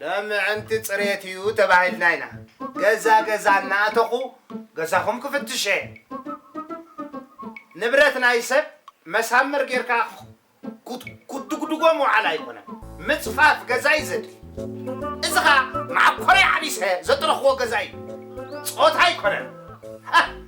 ን ምዕንቲ ጽሬት እዩ ተባሂልና ኢና ገዛ ገዛ እናኣተኹ ገዛኹም ክፍትሸ። ንብረት ናይ ሰብ መሳምር ጌርካ ክትድጉድጎ ምውዓል ኣይኮነን ምጽፋፍ ገዛ እዩ ዘድሊ። እዚ ከኣ መዓኮረይ ዓቢሰ ዘጥረኹዎ ገዛ እዩ ጾታ ኣይኮነን።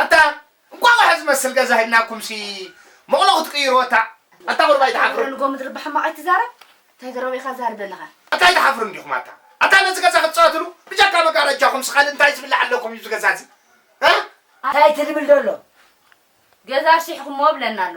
ኣታ እንቋቑሖ ዝመስል ገዛ ሂብናኩምሲ መቕሎ ክትቅይርዎ እታ ኣታ ቁሩብ ኣይትሓፍሩን። ንጎ ምድሪ ብሕማቕ ኣይትዛረብ እንታይ ዘረቡ ኢኻ ትዛረብ ዘለኻ። ኣታ ኣይትሓፍሩን ዲኹም ኣታ ኣታ ነዚ ገዛ ክትጻወትሉ ብጀካ መጋረጃኹምሲ ካልእ እንታይ ዝብላዕ ኣለኩም እዩ እዚ ገዛ እዚ እ። ኣታ ኣይትልምል ዶሎ ገዛ ኣሽሒኹሞ እብለና ኣሎ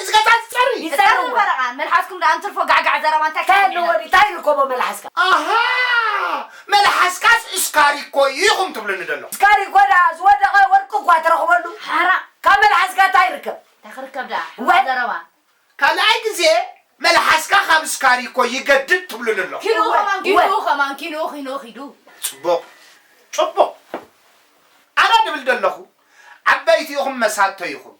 እዚ ከካብ ዝጸሪ ዝተርር ወረቓ መልሓስኩም ደኣ እንትርፎ ጋዕጋዕ ዘረባ እንታይ ክሕን ዒላ። ተልወዲ ታይ ይርከቦ መልሓስካ። ኣሃ መልሓስካስ እስካሪኮ እዩ ኢኹም ትብሉኒ ዘለኹም። እስካሪኮ ደኣ ዝወደቐ ወርቂ እኳ ትረኽበሉ ሓራ። ካብ መልሓስካ ታይ ይርከብ። ታይ ክርከብ ደኣ ሕማቅ ዘረባ። ካልኣይ ግዜ መልሓስካ ካብ እስካሪኮ ይገድድ ትብሉኒ ኣለኹም። ኪንኡ ከማን ኪንኡ ከማን ኪንኡ ኪንኡ ኪዱ። ጽቡቅ ጹቡቅ ኣነ ድብል ደለኹ ዓበይቲ ኢኹም መሳቶ ኢኹም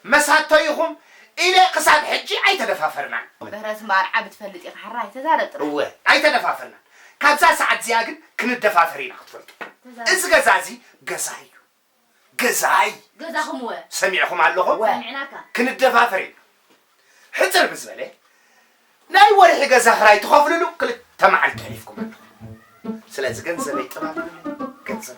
መሳቶ ኢኹም ኢለ ክሳብ ሕጂ ኣይተደፋፈርናን። ምህረት ማርዓ ብትፈልጥ ኢኻ ሕራይ ተዛረብ ጥራይ። እወ ኣይተደፋፈርናን ካብዛ ሰዓት እዚኣ ግን ክንደፋፈር ኢና ክትፈልጡ እዚ ገዛ እዚ ገዛይ እዩ ገዛይ ገዛኹም እወ ሰሚዕኹም ኣለኹም እወ ሰሚዕናካ። ክንደፋፈር ኢና ሕጽር ምስ በለ ናይ ወርሒ ገዛ ክራይ ትኸፍልሉ ክልተ መዓልቲ ኣሕሊፍኩም ኣለኹም ስለዚ ገንዘበይ ጥባብ ገንዘብ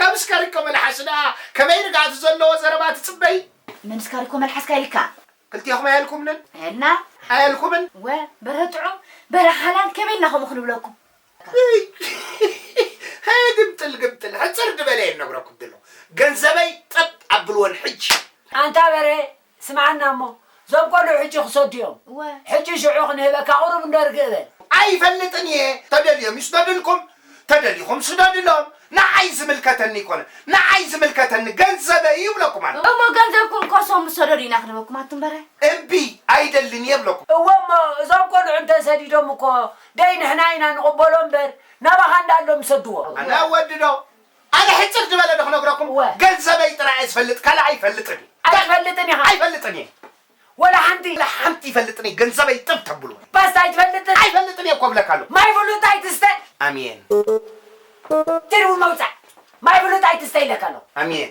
ከምስ ከሪኮ መልሓሱ ደኣ ከመይ ርግኣት ዘለዎ ዘረባ ትጽበዪ? ምምስ ካሪኮ መልሓስካ ኢልካ። ክልቴኹም ኣየልኩምንን? ኣየልና። ኣየልኩምን። እወ በርሀ ጥዑም በርሀ ሓላል ከመይ ኢልና ከምኡ ክንብለኩም። ሃየ ግምጥል ግምጥል ሕጽር ድበለ እየ ንነግረኩም ድሎ ገንዘበይ ጠብ ኣብልወን ሕጂ። ኣንታ በርሀ ስምዓና እሞ ዞም ቆልዑ ሕጂ ክሰዱ እዮም እወ። ሕጂ ሽዑ ክንህበካ ቁሩብ እንዶ ርግእ በል። ኣይፈልጥን እየ ተደልዮም ይስደድልኩም ተደሊኹም ስደድሎም ንዓይ ዝምልከተኒ ኣይኮነን ንዓይ ዝምልከተኒ ገንዘበይ እዩ እብለኩም ኣለኹ። እሞ ገንዘብኩም ኮሶም ሰደዱ ኢና ክንበኩም ኣቱምበረ። እምቢ ኣይደልን እየ እብለኩም። እወ እሞ እዞም ቆልዑ እንተ ሰዲዶም እኮ ደይ ንሕና ኢና ንቕበሎ እምበር ናባኻ እንዳ ኣሎም ሰድዎም። ኣነ ወዲ ዶ ኣነ ሕጽር ዝበለ ዶ ክነግረኩም እወ። ገንዘበይ ጥራይ እየ ዝፈልጥ ካልእ ኣይፈልጥን እየ። ኣይትፈልጥን ኢኻ። ኣይፈልጥን እየ። ወላ ሓንቲ። ወላ ሓንቲ ኣይፈልጥን እየ ገንዘበይ ጥብ ተብሉ። ፓስታ ኣይትፈልጥን። ኣይፈልጥን እየ እኮ እብለካ ኣለኹ። ማይ ፍሉጥ ኣይትስተ። ኣሜን። ትርጉም መውጻእ ማይ ፍሉጥ ኣይትስተ ኢለካ ኣለኹ። ኣሜን።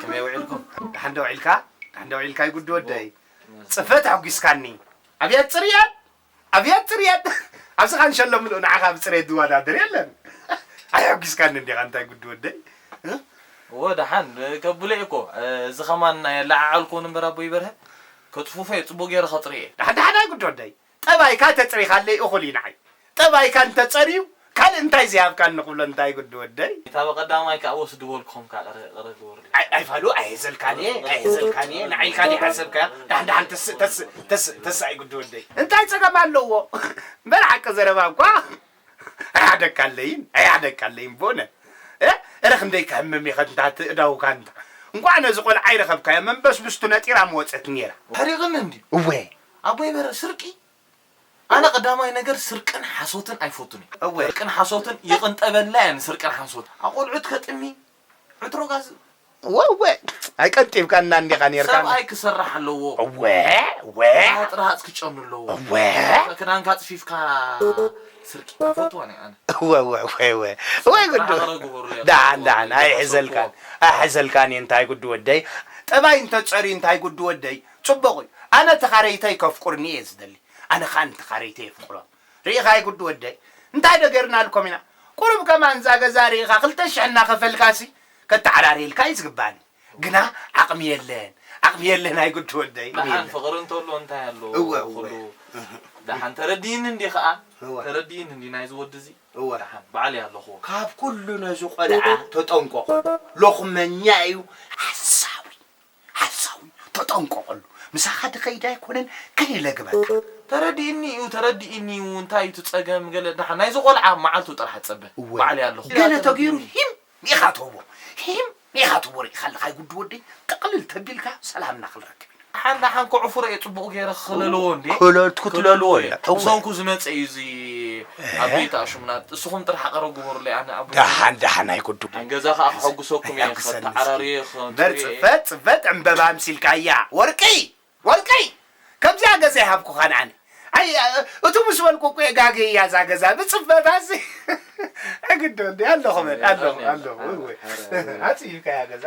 ከመይ ውዒልኩም ደሓን ዶ ውዒልካ ደሓን ዶ ውዒልካ ይጉዲ ወደይ ፅፈት ኣጒስካኒ ኣብያት ፅርያት ኣብያት ፅርያት ኣብዚ ካንሸሎ ምልኡ ንዓኻ ብፅሬት ዝወዳደር የለን ኣየጒስካኒ እንዲኻ እንታይ ጉዲ ወደይ እዎ ደሓን ከብሎ እየ እኮ እዚ ከማን ኣየለዓዓልኩን እምበር ኣቦይ በርሀ ከፅፉፎ እየ ፅቡቅ ገይረ ከፅርዮ እየ ደሓን ደሓን ኣይጉዲ ወደይ ጠባይካ ተጽሪኻለይ እኹል እዩ ንዓይ። ጠባይካ እንተ ጸርዩ ካልእ እንታይ ዘይሃብካኒ ክብሎ እንታይ ግዲ ወደይ። እታ በቀዳማይ ከኣ ወስዲ በልኩም ከኣ ቅረ ቅረ ግበሩለይ። ኣይ ኣይ ፋሉ ኣይሀዘልካን እየ ኣይሀዘልካን እየ ንዓይ ኢልካ ደይ ሓሰብካዮ ዳሓን ዳሓን ተስ ተስ ተስ ተስ ኣይግዲ ወደይ። እንታይ ጸገም ኣለዎ እበር ሓቂ ዘረባ እኳ። ኣይዓደካለይን ኣይዓደካለይን ቦነ እ እረ ክንደይ ክሕምም ኢኸ እንታ እቲ እዳውካ እንታ እንቋዕ ነዚ ቆልዓ ኣይረኸብካዮ መንበስብስቱ ነጢራ ምወጸት ኔራ። ታሪቕኒ እንድዩ እወ ኣቦይ በረ ስርቂ ኣነ ቀዳማይ ነገር ስርቅን ሓሶትን ኣይፈቱን እየ እወ ስርቅን ሓሶትን ይቕንጠበላ እየ ንስርቅን ሓሶትን ኣቖልዑት ከጥሚ ዕትሮ ጋዝ ወወ ኣይቀንጢብካና እንዲኻ ኔርካ ሰብኣይ ክሰርሕ ኣለዎ እወ እወ ራሃፅ ራሃፅ ክጨኑ ኣለዎ እወ ክዳንካ ፅፊፍካ ስርቂ ኣይፈትዋን እየ ኣነ እወ እወ እወ እወ እወ ግዱ ሓበረ ግበሩለይ ዳሓን ዳሓን ኣይሕዘልካን ኣይሕዘልካን እየ እንታይ ግዱ ወደይ ጠባይ እንተፀርዩ እንታይ ግዱ ወደይ ፅቡቕ እዩ ኣነ ተኻረይተይ ከፍቁርኒ እየ ዝደሊ ኣነ ከዓ ንተኻረይተይ የፍቅሮም ሪኢኻ ኣይጉዱ ወደይ እንታይ ዶ ገርናልኮም ኢና ቁሩብ ከማን እዛ ገዛ ሪኢኻ ክልተ ሽሕ እናኸፈልካሲ ከተዓራርየልካ እዩ ዝግባኣኒ ግና ዓቅሚ የለን ዓቅሚ የለን ኣይጉዱ ወደይ ቁሚ ደሓን የለን ፍቅሪ እንተሎ እንታይ ኣሎ እወ እወ ኩሉ ደሓን ተረዲኢኒ እንዲ ከኣ እወ ተረዲኢኒ እንዲ ናይዚ ወዲ እዚ እወ ደሓን ባዕለይ ኣለኽዎ። ካብ ኩሉ ነዚ ቆልዓ ተጠንቆቆ ሎኽመኛ እዩ ሓሳዊ። ሓሳዊ ተጠንቀቐሉ ምሳኻ ድኸይድ ኣይኮነን ከይለግበካ። ተረዲእኒ እዩ ተረዲእኒ እዩ እንታይ እዩ እቲ ጸገም ገለ ደሓን ናይዚ ቆልዓ መዓልቱ ጥራሕ ጸበ እወ በዓለይ ኣለኹ ገለ ተገይሩ ሂም ኢኻ ትህቦ ሂም ኢኻ ትህቦ ርኢኻ ኣለኻ ይጉዲ ወደይ ጥቕልል ተቢልካ ሰላምና ክንረክብ ኢና። ደሓን ደሓን ከዕፍሮ እየ ጽቡቕ ገይረ ክለልዎ እንዴ ክትለልዎ ክትለልዎ እየ እወ። ምሰንኩ ዝመጸ እዩ እዚ ኣቡይ ክኣ ሹምና እስኹም ጥራሕ ኣቀረብ ግበሩለይ ኣነ ኣቡይ ክኣ ዳሓን ዳሓን ኣይኩዱ ኣብ ገዛ ክኣ ከሐጉሰኩም እየ ከተዓራርየ በር ጽፈት ጽፈት ዕምበባ ኣምሲልካያ ወርቅይ ወርቅይ ከምዚኣ ገዛ ኣይሃብኩኻን ኣነ ኣይ እቱ ምስ በልኩ እኮ እየ ጋገያ እዛ ገዛ ብጽፈታሲ ኣግዶ እንዲ ኣለኹ በል ኣለኹ ኣለኹ እወ ኣጽዩካያ ገዛ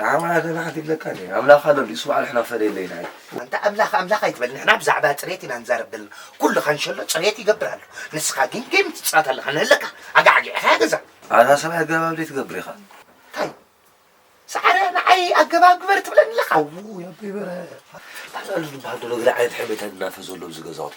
ንዓ ዋላ ገለ ሓንቲ ይብለካ እንድየ ኣምላኽ ኣሎ እንድዩ ስማዕ ንሕና ፈለየለይ ንዓይ። ኣንታ ኣምላኽ ኣምላኽ ኣይትበል ንሕና ብዛዕባ ጽሬት ኢና ንዛረብ ዘለና ኩሉ ካንሸሎ ጽሬት ይገብር ኣሎ ንስኻ ግን ጌም ትጻወት ኣለኻ ንህለካ ኣጋዕጊዕኻ እያ ገዛ ኣታ ሰብኣይ ኣገባብ ደይ ትገብር ኢኻ እንታይ ሰዓረ ንዓይ ኣገባብ ግበር ትብለኒ ኣለኻ ኣዉ ያበይ በረ ባዕሉ ዝበሃል ዶ ነገር ዓይነት ሕሜታ እናፈ ዘሎ ኣብዚ ገዛውቲ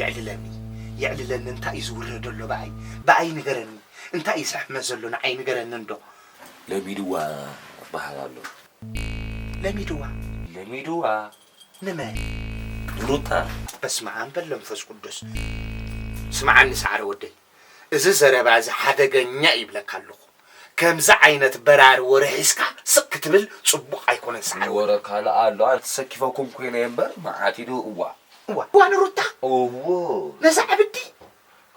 የዕልለኒ የዕልለኒ እንታይ እዩ ዝውረዶ ኣሎ ብኣይ ብኣይ ንገረኒ እንታይ እዩ ዝሕመስ ዘሎ ንዓይ ንገረኒ እንዶ። ለሚድዋ እባሃል ኣሎ። ለሚድዋ። ለሚድዋ። ንመን? ንሩታ። በስመኣም በል ለምፈስ ቁዱስ ስምዓኒ ሳዓረ ወደይ እዚ ዘረባ እዚ ሓደገኛ እዩ ይብለካ ኣለኹ ከምዚ ዓይነት በራሪ ወረ ሒዝካ ስቅ ክትብል ጽቡቅ ኣይኮነን ሰዓረ ወረ። ወረ ካልእ ኣሎ ኣነ ተሰኪፈኩም ኮይነ እምበር መዓት እዩ ዶ እዋ። እዋ እዋ ንሩታ እውይ ነዛ ዕብዲ።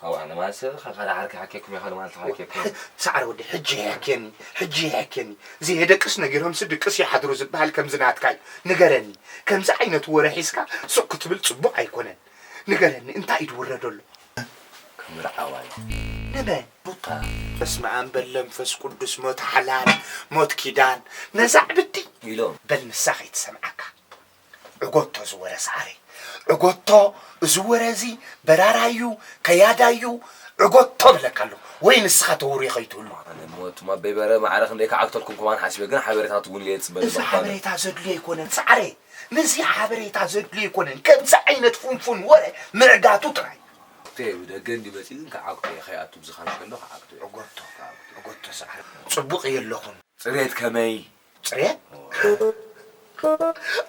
ኣውኣ ንማንሰ ኸ ካልእ ዓርኪ ይሓኬኩም እየ ካልእ መዓልቲ ክሓኬኩም። ሰዓረ ወዲ ሕጂ ይሕኬኒ ሕጂ ይሕኬኒ ዘየደቅስ ነጊሮምሲ ድቅስ ይሓድሩ ዝብሃል ከምዚ ናትካ እዩ ንገረኒ ከምዚ ዓይነት ወረ ሒዝካ ስቅ ክትብል ጽቡቅ ኣይኮነን ንገረኒ እንታይ እዩ ድውረዶ ኣሎ። ክምርዓዋዩ ንበ ቡታ በስመኣም በል ለምፈስ ቁዱስ ሞት ሓላል ሞት ኪዳን ነዛ ዕብዲ ኢሎም በል ንሳ ከይትሰምዓካ ዕጎቶ ዝወረ ሰዓረ ዕጎቶ እዚ ወረ እዚ በራራዩ ከያዳዩ ዕጎቶ ብለካ ኣለኩ ወይ ንስኻ ተውሪ ከይትህሉ ኣነ ሞት ማበይ በረ ማዕረ ክንደይ ክዓግተልኩም ኩማን ሓሲበ ግን ሓበሬታት እውን እየ ዝፅበ እዚ ሓበሬታ ዘድልዮ ኣይኮነን ሰዓረ ምስዚ ሓበሬታ ዘድልዮ ኣይኮነን ከምዚ ዓይነት ፉንፉን ወረ ምዕጋቱ ጥራይ። ኣጉተየ ብደገ እንድዩ መጺኡ ግን ክኣጉተየ ከይኣቱ ብዝካሽ ከሎ ክኣግቶ እየ። እጎቶ እጎቶ ሳዓረ ጽቡቅ እየ ኣለኹን። ጽሬት ከመይ? ጽሬት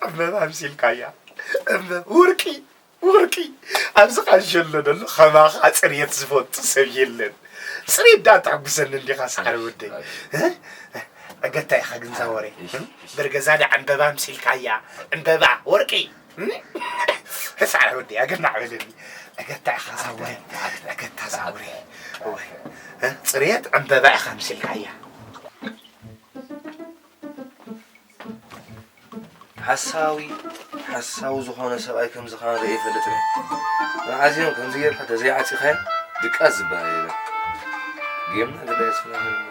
ዕምበባ ኣምሲልካያ ዕምበብ ውርቂ። ወርቂ ኣብዚ ቃንሸሎ ደሎ ከማኻ ፅርየት ዝፈቱ ሰብ የለን ፅርየት ዳኣ ተሕጉሰኒ እንዲኻ ሳዕሪ ወደይ ዕገታ ኢኻ ግንዛ ወሬ ብርገዛ ዳኣ ዕምበባ ኣምሲልካያ ዕምበባ ወርቂ ሳዕሪ ወደይ ኣገናዕ በለኒ ዕገታ ኢኻ ዛወሬ ዕገታ ዛወሬ ፅርየት ዕምበባ ኢኻ ኣምሲልካያ ሓሳዊ ሓሳዊ ዝኾነ ሰብኣይ ከምዚ ኻን ርእየ ይፈልጥን መዓዝዮም ከምዚ ጌርካ ተዘይዓፂኻዮ ድቃስ ዝበሃል የለን ጌምና ግዳ የፅናለና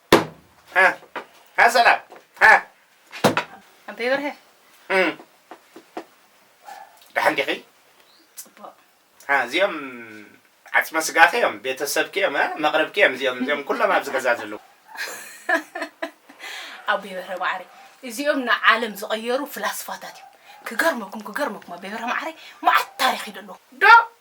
ኣበይ በርሀ ደሓን ዲኺ? ፅቡቕ እዚኦም ዓፅመ ስጋኺ እዮም፣ ቤተሰብኪ እዮም፣ መቕርብኪ እዮም። እዚኦም እዚኦም ኩሎም ኣብዚ ገዛ ዘለዉ ኣቦይ በርሀ ማዕረይ እዚኦም ንዓለም ዝቐየሩ ፍላስፋታት እዮም። ክገርመኩም ክገርመኩም ኣቦይ በርሀ ማዕረይ መዓት ታሪኽ እዩ ደለዎ ዶ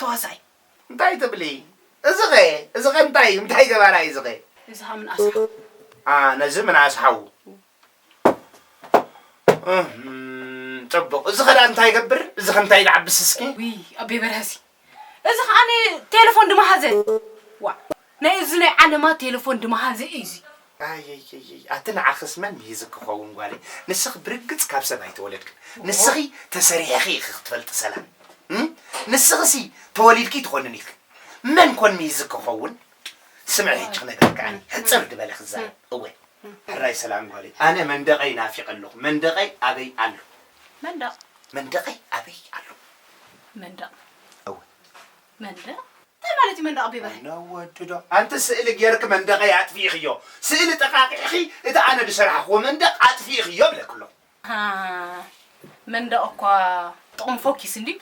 ተዋሳኣይ እንታይ ትብሊ እዚ ከ እዚ ከ እንታይ እዩ እንታይ ገባራ እዩ እዚ ከ እዚ ከ ምንኣስ ሓው ኣ ነዚ ምንኣስ ሓው ጽቡቅ እዚ ከ እንታይ ይገብር እዚ ከ እንታይ ድዓብስ እስኪ ውይ ኣቤ በርሀሲ እዚ ከዓኒ ቴለፎን ድማሃዘ ዋእ ናይ እዝነይ ዓለማ ቴለፎን ድማ ሃዘ ኢዚ። ኣይይይይ ኣቲ ንዓኽስ መን ምሂዝክ ክኸውን ጓለይ ንስኺ ብርግጽ ካብ ሰብ ኣይተወለድክን ንስኺ ተሰሪሕኺ ኢኺ ክትፈልጢ ሰላም እም ንስኺሲ ተወሊድኪ ትኾንን ኢኺ መን ኮን ምሂዝክ ክኸውን ስምዒ ሕጂ ክነግረኪ ኣነ ሕጽር ድበለ ክዛረብ እወ ሕራይ ሰላም ጓለይ ኣነ መንደቀይ ናፊቀ ኣለኹ መንደቀይ ኣበይ ኣሎ መንደቅ መንደቀይ ኣበይ ኣሎ መንደቅ እወ መንደቕ እንታይ ማለት እዩ መንደቕ ኣቢ ብርሃይ። ነወድዶ ኣንቲ ስእሊ ጌርኪ መንደቀይ ኣጥፊኢክዮ ስእሊ ጠቃቂዕኺ እቲ ኣነ ድሰራሕክዎ መንደቅ ኣጥፊኢክዮ እብለኪ ኣለኹ። ኣሃ መንደቕ እኳ ጥቕሙ ፎኪስ እንድዩ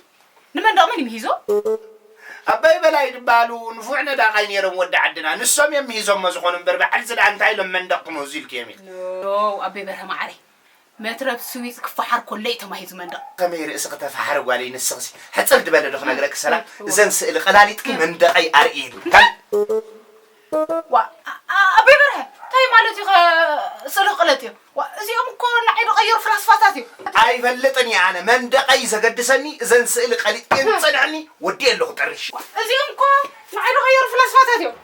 ንመንደቕ መን እዩ ምሂዞ? ኣባይ በላይ ድበሃሉ ንፉዕ ነዳቃይ ኔሮም ወዲ ዓድና ንሶም እዮም ምሂዞሞ ዝኾኑ እምበር ባዕልዚ ድኣ እንታይ ኢሎም መንደቕ ክምህዙ ኢልክዮም ኢኺ። ኖው ኣቤ በርሀ ማዓረይ መትረብ ስዊዝ ክፋሓር ኮሎ'ዩ ተማሂዙ መንደቕ። ከመይ ርእስኺ ተፋሓሪ ጓለይ ንስኺሲ ሕጽር ድበለ ዶ ክነግረኪ ሰላም እዘን ስእሊ ቀላሊጥኪ መንደቐይ ኣርእዪ ኢሉ ካልእ ዋእ ኣቤ በርሀ ታይ ማለትዩኸ ስእልኺ ቅለጥዮ ዋእ እዚኦም እኮ ንዓይ ድቐየሩ ፍላስፋታት እዮም እቲ ኣይፈልጥን እየ ኣነ መንደቐይ ዘገድሰኒ እዘን ስእሊ ቀሊጥክየን ዝጸንሐኒ ወዲኤ ኣለኹ ጥርሽ። ዋእ እዚኦም እኮ ንዓይ ድቐየሩ ፍላስፋታት እዮም።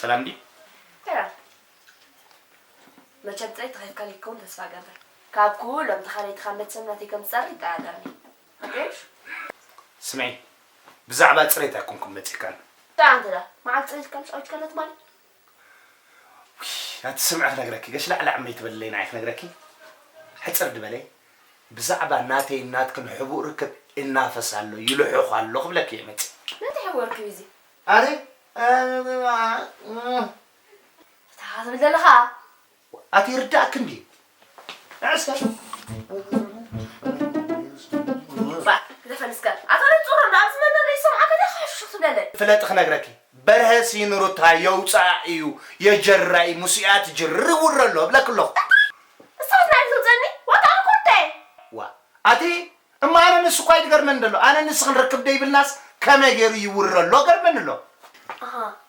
ሰላም ድዩ? መቸም ጥሪት ተኸፍካል ይከውን ተስፋ ገብር ካብ ኩሎም ተኻለይትኻ መቸም ናተይ ከም ዝፀሪ ይጠራጠርኒ ስምዒ ብዛዕባ ፅሬት ኣይኮንኩም መፂእካን ዳንተ ዳ መዓል ፅሬት ከም ፀዊት ከለት ማለት ናቲ ስምዒ ክነግረኪ ገሽላዕላዕ እምበይ ትበልለይ ንዓይ ክነግረኪ ሕጽር ድበለይ ብዛዕባ ናተይን ናትክን ሕቡእ ርክብ እናፈስ ኣሎ ይልሑኽ ኣሎ ክብለኪ እየ መጽ ናተይ ሕቡእ ርክብ እዩ እዚ ኣረ እታ ትብል ዘለኻ ኣቲ ይርዳእክ እንድዩ ንዕስካ ፍለጢ ክነግረኪ በርሀ ሲን ሩታ የውፃኣ እዩ የጀራይ ሙስኣ ትጅር ይውረ ኣሎ እብለኪ ኣለኹ ዋ ኣቲ እማ ኣነ ንሱ እኳ ይገርመኒ ደሎ ኣነ ንስኺ ንርክብ ደይብልናስ ከመይ ገይሩ ይውረ ኣሎ ገርመኒ ኣሎ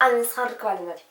ኣነ ንስኻ ንርክብ ኣለና ድዩ